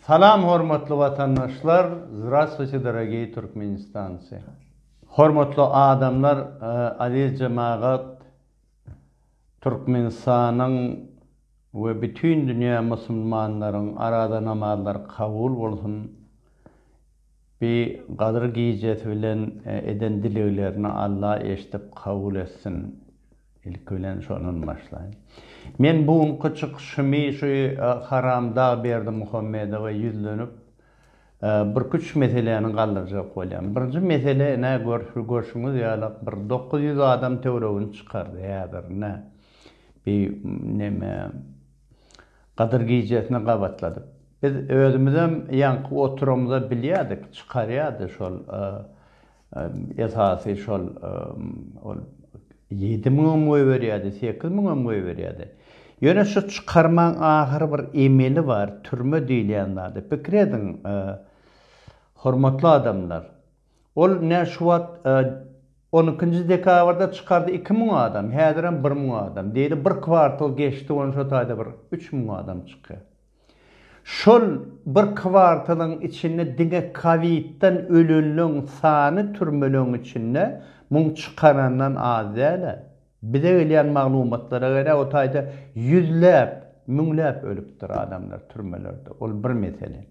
Salam hormatly watandaşlar Zdravstwuyte dorogiý Türkmenistancy Hormatly adamlar Aziz jemagat Türkmenistanyň we bütin dünýä musulmanlaryň arada namazlary kabul bolsun. Bi Gadyr gijesi bilen eden dileglerini Alla eşdip kabul etsin. Ilki bilen şondan başlaýyn. Men bu günki çykyşymy şu haramdag Berdimuhamedowa ýüzlenip birki üç meseläni galdyrjak bolýan. Birinji mesele ine görşüňiz ýaly bir dokuz ýüz adam töwregini çykardy häzir ine bi neme Gadyr gijesini gabatladyk. Biz özümizem ýaňky oturamyza bilýädik, çykarýardy şol esasy şol ol ýedi müňem goýberýärdi, sekiz müňem goýberýärdi. Ýöne şu çykarmaň ahyry bir emeli bar, türme diýilýän zady. Pikir ediň, hormatly adamlar! Ol nä şu wagt on ikinji dekabrda çykardy iki müň adam häzirem bir müň adam diýeli bir kwartal geçdi on şo taýda bir üç müň adam çykýar. Şol bir kwartalyň içinde diňe kowidden ölenleň sany türmeleň içinde muň çykarandan az dälä. Bize gelýän maglumatlara görä, o taýda ýüzläp, müňläp ölüpdir adamlar türmelerde. Ol bir mesele.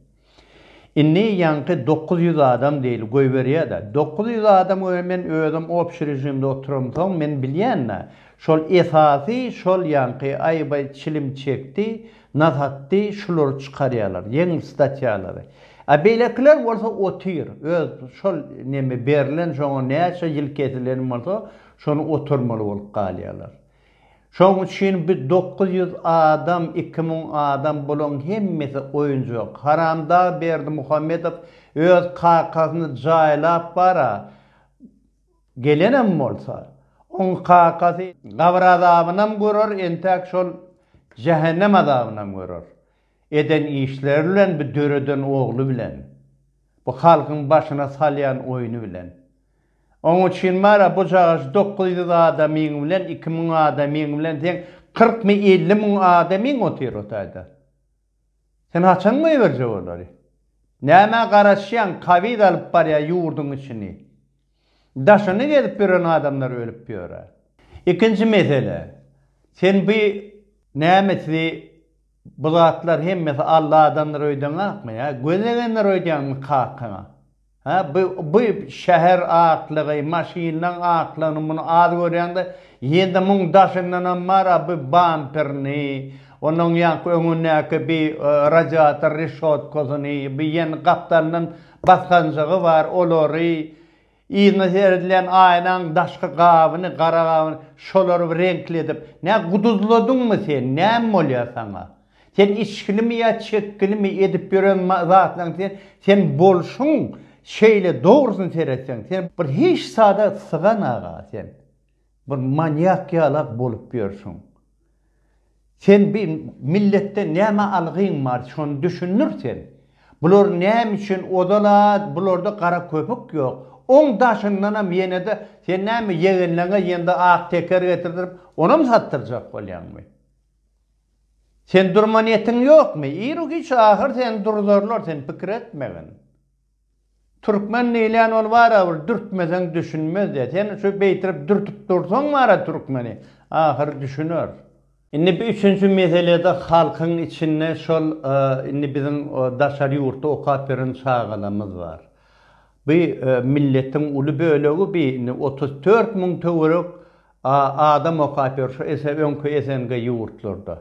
Indi ýaňky dokuz ýüz adam diýeli goýberýä-de, dokuz ýüz adam görä men özüm obşi režimde oturamsoň, men bilýän-de, şol esasy şol ýaňky Aýbaý çilim çekdi, nas atdy, şulary çykarýalar, ýeňil statýalary. A beýlekiler bolsa otyr, öz şol neme berilen, şoňa näçe ýyl kesileni bolsa, Şony oturmaly bolup galýarlar. Şoň üçin bi dokuz ýüz adam, iki müň adam bulaň hemmesi oýunjak. Haramdag Berdimuhamedow öz kakasyny jaýlap bara gelenem bolsa, oň kakasy gabyr azabynam görer, entäk şol jähennem azabynam görer. Eden işleri bilen, bi döreden ogly bilen, bu halkyň başyna salýan oýny bilen. Oň üçin bar-a bu cagaş dokuz ýüz adamyň bilen, iki müň adamyň bilen seň kyrkmy, elli müň adamyň otyr o taýda. Sen haçan goýberjek olary? Nämä garaşýaň, kowid alyp barýa ýurduň içini. Daşyny gezip ýören adamlar ölüp ýör-ä. Ikinji mesele, sen bu nämesi bu zatlar hemmesi aldadandyr öýdäňakmy ýa gözlegendir öýdýäňmi kakaňa? Hä, bu şäher atlygy, maşynlaň atlygyny muny az görýäňdä, ýedi müň daşyndanam bar-a bu bamperni, onuň ýaňky öňündäki bi radiator reşotkasyny, bi ýene gapdalyndan basganjygy bar, olary, yzyna seredilýän aýnaň daşky gabyny, gara gabyny, şolary reňkli edip, nä guduzladyňmy sen, näme bolýa saňa? Sen içginimi ýa çekginimi edip ýören zatlaň sen sen bolşuň şeýle dogrusyny seretseň sen bir hiç zada sygan aga sen bir manýak ýalak bolup ýörsüň sen bi milletden näme algyň bar şony düşündir sen bular näme üçin ozala bularda gara köpük ýok oň daşyndanam ýenede sen näme ýegenleňe ýende ak teker getirdirip onam satdyrjak bolýaňmy. Sen durma niýetiň ýokmy? Ir-u-giç ahyr seni durdurlar, sen pikir etmegin. Türkmen diýilýän ol barabir dürtmeseň düşünmez-de. Sen şu beýtirip dürtüp dursaň bara türkmeni, ahyry düşüner. Indi bu üçünji meselede halkyň içinde şol indi biziň daşary ýurtda okap ýören çagalarymyz bar. Bu milletiň uly bölegi bi indi otuz dört müň töwerek A adam okap ýör şu ese öňki SNG ýurtlarda.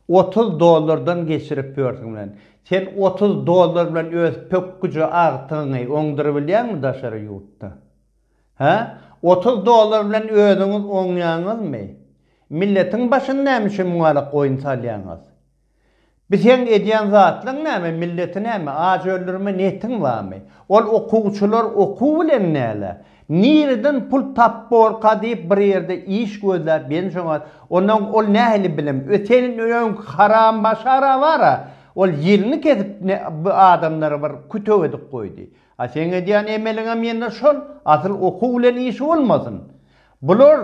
Otuz dollardan geçirip ýörsüň bilen. Sen otuz dollar bilen öz pökgüje agtygyňy oňdyrybilýäňmi daşary ýurtda? Hä? Otuz dollar bilen özüňiz oňýaňyzmy? Milletiň başyny näme üçin muňa ýalak oýun salýaňyz? Bi seň edýän zatlaň näme milleti näme aç öldürme netin bamy ol okuwçylar okuw bilen näle nireden pul tapborka diýip bir ýerde iş gözläp ýensoňa ondan ol nähili bilim we seniň öň haram başara bara ol ýelini kesip ne bi adamlary bir kütük edip goýdy A seň edýän emeliňem ýene şol, asyl okuw bilen işi bolmasyn. Bular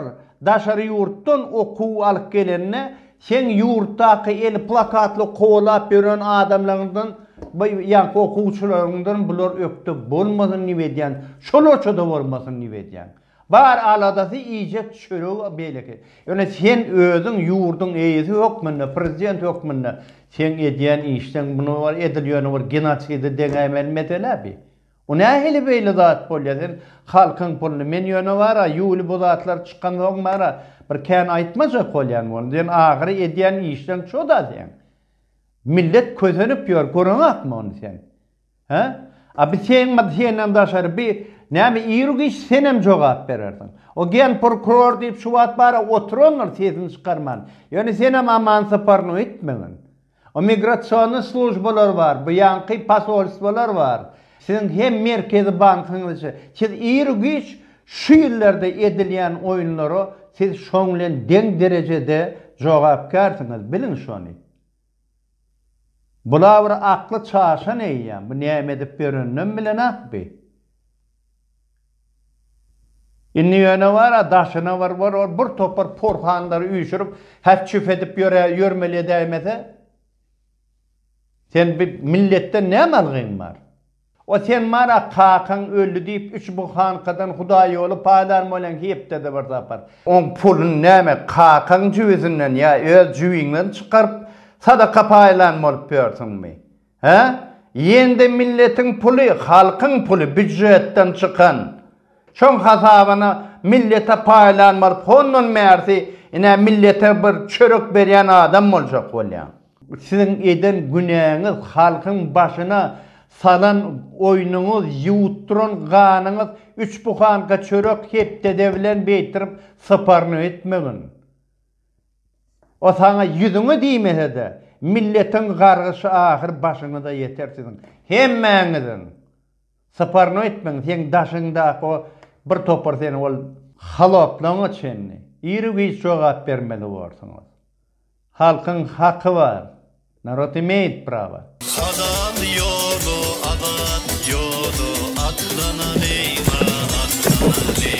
daşary ýurtdan okuw alyp gelende seň ýurtdaky eli plakatly kowalap ýören adamlaňdan ýaňky okuwçylaryňdan bular ökde bolmasyn diýip edýän, şolaçada bolmasyn diýip edýän. Bar aladasy iýjek çöregi beýleki. Ýöne sen özüň ýurduň eýesi hökmünde, prezident hökmünde seň edýän işleň muny bir edil ýöne bir genoside deňäýmeli mesele bi. Bu nähili beýle zat bolýa sen halkyň puluny men ýöne bara ýuly bu zatlar çykansoň bara bir kän aýtmajak bolýan boldum sen ahyry edýän işleň şoda seň. Millet kösenip ýör görüňakmy ony sen. Hä? A bi seň mady senden daşary bi näme ir giç senem jogap berersiň. O gen prokuror diýip şu wagt bara oturandyr sesini çykarman. Ýöne senem aman syparyny öýtmegin. O migrasionny slujbalar bar, bu ýanky posolstwalar bar. Siziň hem merkezi bankyňyz çe. Siz ir giç şu ýyllarda edilýän oýunlara siz şoň bilen deň derejede jogapkärsiňiz biliň şony. Bula bir akly çaşan eýýäm, bu näme edip ýöreninem bilenak bi. Indi ýöne bar-a daşyna bir bir ol bir topar porhanlary üýşürip häf-çüf edip ýöre ýörmeli edäýmese, sen bi milletden näme algyň bar? O sen bar-a, kakaň öldi diýip, üç buhankadan hudaýýoly paýlan bolan hepdede bir sapar. Oň puluny näme, kakaň jübüsinden ýa öz jübiňden çykaryp, sadaka paýlan bolup ýörsüňmi? Hä? Ýene-de milletiň puly, halkyň puly, býujetden çykan. Şoň hasabyna millete paýlanmaly hondan bärsi ine millete bir çörek berýän adam boljak bolýaň. Siziň eden günäňiz halkyň başyna salan oýnuňyz ýuwutdyran ganyňyz üç buhanka çörek hepdede bilen beýtirip syparnyk etmegin. O saňa ýüzüňe diýmesede milletiň gargyşy ahyr başyňyza ýeter siziň hemmäňiziň. Syparnyň etmegiň seň daşyňdaky o bir topar seni ol haloplaňa çenli ir-u giç jogap bermeli borsuňyz. Halkyň haky bar. Narod imeýt prawa. Halal ýola azat ýola atlanalyň a atlanalyň.